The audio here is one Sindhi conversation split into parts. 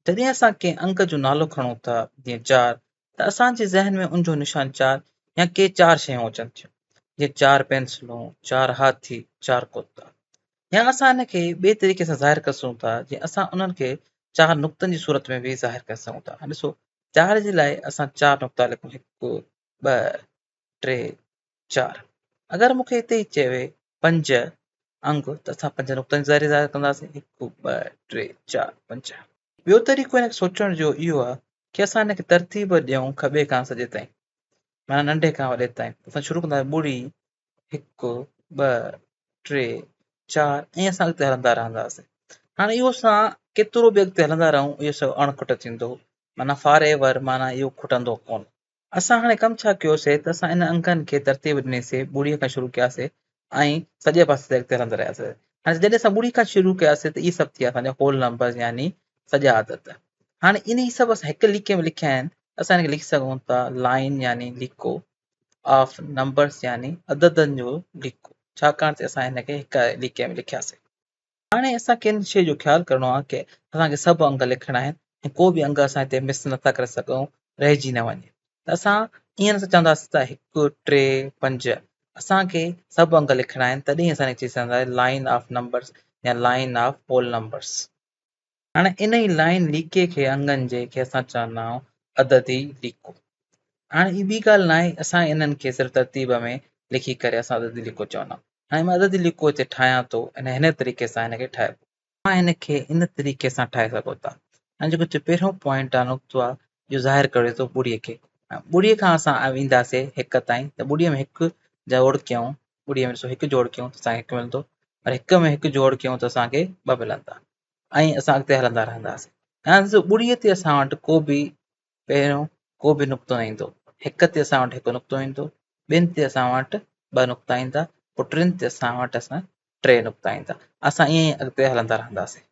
جڏهن اسان ڪنهن انگ جو نالو کڻون ٿا، جيئن چار، ته اسان جي ذهن ۾ ان جو نشان چار يا ڪي چار شيون اچن ٿيون، جيئن چار پينسلون، چار هاٿي، چار ڪتا. يا اسان ان کي ٻئي طريقي سان ظاهر ڪري سگهون ٿا، جيئن اسان انهن کي چار نقطن جي صورت ۾ به ظاهر ڪري سگهون ٿا. ڏسو، چار جي لاء اسان چار نقطا لکون، هڪ، ٻه، ٽي، چار اگر مون کي اتي ئي چوي پنج انگ ته اسان پنج نقطن جي ظاهري اظهار ڪنداسين هڪ ٻه ٽي چار پنج ٻيو طريقو هن کي سوچڻ جو اهو آهي ڪي اسان هن کي ترتيب ڏيون کٻي کان سڄي تائين معنيٰ ننڍي کان وڏي تائين اسان شروع ڪنداسين ٻڙي هڪ ٻه ٽي چار ائين اسان اڳتي هلندا رهنداسين هاڻي اهو اسان ڪيترو به اڳتي هلندا رهون اهو سو اڻ کٽ ٿيندو معنيٰ فار ايور معنيٰ اهو کٽندو ڪونه اسان هاڻي ڪم ڇا ڪيوسي ته اسان ان انگن کي ترتيب ڏنيسي ٻڙي کان شروع ڪياسي ۽ سڄي پاسي تي اڳتي هلندا رهياسي هاڻي جڏهن اسان ٻڙي کان شروع ڪياسي ته اهي سڀ ٿيا اسان جا هول نمبرز يعني سڄا عدد هاڻي ان هي سڀ اسان هڪ ليڪي ۾ لکيا آهن اسان هن کي لکي سگهون ٿا لائين يعني ليڪو آف نمبرز يعني عددن جو ليڪو ڇاڪاڻ ته اسان هن کي هڪ ليڪي ۾ لکياسي هاڻي اسان کي ان شيء جو خيال ڪرڻو آهي ته اسان کي سڀ انگ لکڻا آهن ۽ ڪو به انگ اسان هتي مس نٿا ڪري سگهون رهجي نه وڃي ته اسان ائين نٿا چونداسين ته هڪ، ٽي، پنج، اسان کي سڀ انگ لکڻا آهن تڏهن ئي اسان کي چئي سگهنداسين لائن آف نمبرس يا لائن آف هول نمبرس. هاڻي انهي لائين ليڪي کي انگن جي کي اسان چوندائون عددي ليڪو. هاڻي هي ٻي ڳالهه ناهي اسان انهن کي صرف ترتيب ۾ لکي ڪري اسان عددي ليڪو چوندائون. هاڻي مان عددي ليڪو هتي ٺاهيان ٿو ۽ هن طريقي سان هن کي ٺاهبو. اوهان هن کي ان طريقي سان ٺاهي سگهو ٿا. هاڻي جيڪو هتي پهريون پوائنٽ آهي نقطو آهي اهو ظاهر ڪري ٿو ٻڙي کي. هاڻي ٻڙي کان اسان اينداسي هڪ تائين ته ٻڙي ۾ هڪ جوڙ ڪيون ٻڙي ۾ ڏسو هڪ جوڙ ڪيون ته اسان کي هڪ ملندو پر هڪ ۾ هڪ جوڙ ڪيون ته اسان کي ٻه ملندا. ائين اسان اڳتي هلندا رهنداسين ۽ سو ٻڙي تي اسان وٽ ڪو به پهريون ڪو به نقطو نه ايندو هڪ تي اسان وٽ هڪ نقطو ايندو ٻن تي اسان وٽ ٻه نقطا ايندا پوء ٽن تي اسان وٽ اسان ٽي نقطا ايندا اسان ائين ئي اڳتي هلندا رهنداسين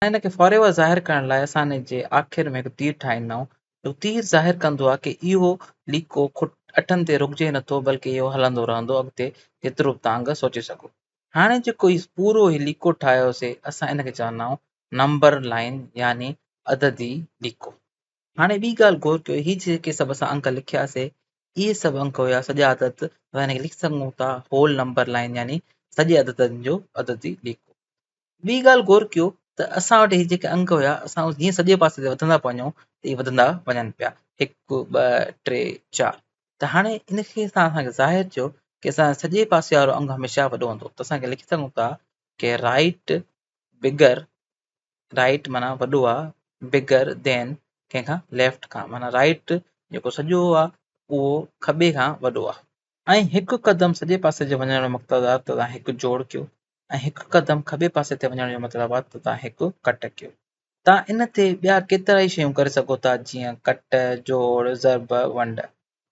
هن کي فار ايور ظاهر ڪرڻ لاء اسان ان جي آخر ۾ هڪ تير ٺاهيندا آهيون جو تير ظاهر ڪندو آهي ڪي اهو ليڪو کٽ اٺن تي رڪجي نٿو بلڪه اهو هلندو رهندو اڳتي جيترو به تانگ سوچي سگهو هاڻي جيڪو هي پورو هي ليڪو ٺاهيوسي اسان ان کي چوندا آهيون نمبر لائين يعني عددي ليڪو. هاڻي ٻي ڳالهه غور ڪيو هي جيڪي سڀ اسان انڪ لکياسي اهي سڀ انڪ هيا سڄا عدد اسان ان کي لکي سگهون ٿا هول نمبر لائين يعني سڄي عددن جو عددي ليڪو. ٻي ڳالهه غور ڪيو ته اسان وٽ هي جيڪي انڪ هيا اسان جيئن سڄي پاسي تي وڌندا پيا وڃون ته اهي وڌندا وڃن پيا هڪ ٻه ٽي چار ته هاڻي ان کي اسان اسان کي ظاهر ٿيو ڪي اسان جو سڄي پاسي وارو انگ هميشه وڏو هوندو ته اسان کي لکي سگهون ٿا ڪي رائيٽ بگر رائيٽ معنيٰ وڏو آهي بگر دين ڪنهن کان ليفٽ کان معنيٰ رائيٽ جيڪو سڄو آهي اهو کٻي کان وڏو آهي ۽ هڪ قدم سڄي پاسي جي وڃڻ جو مقصد آهي ته توهان هڪ جوڙ ڪيو ۽ هڪ قدم کٻي پاسي تي وڃڻ جو مطلب آهي ته توهان هڪ ڪٽ ڪيو توهان ان تي ٻيا ڪيترائي شيون ڪري سگهو ٿا جيئن ڪٽ جوڙ ضرب ونڊ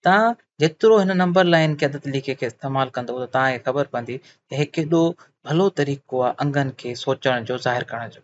توهان جيترو هن نمبر لائين کي عدد ليکي کي استعمال ڪندو ته توهان کي خبر پوندي ته هي ڪيڏو ڀلو طريقو آهي انگن کي سوچڻ جو ظاهر ڪرڻ جو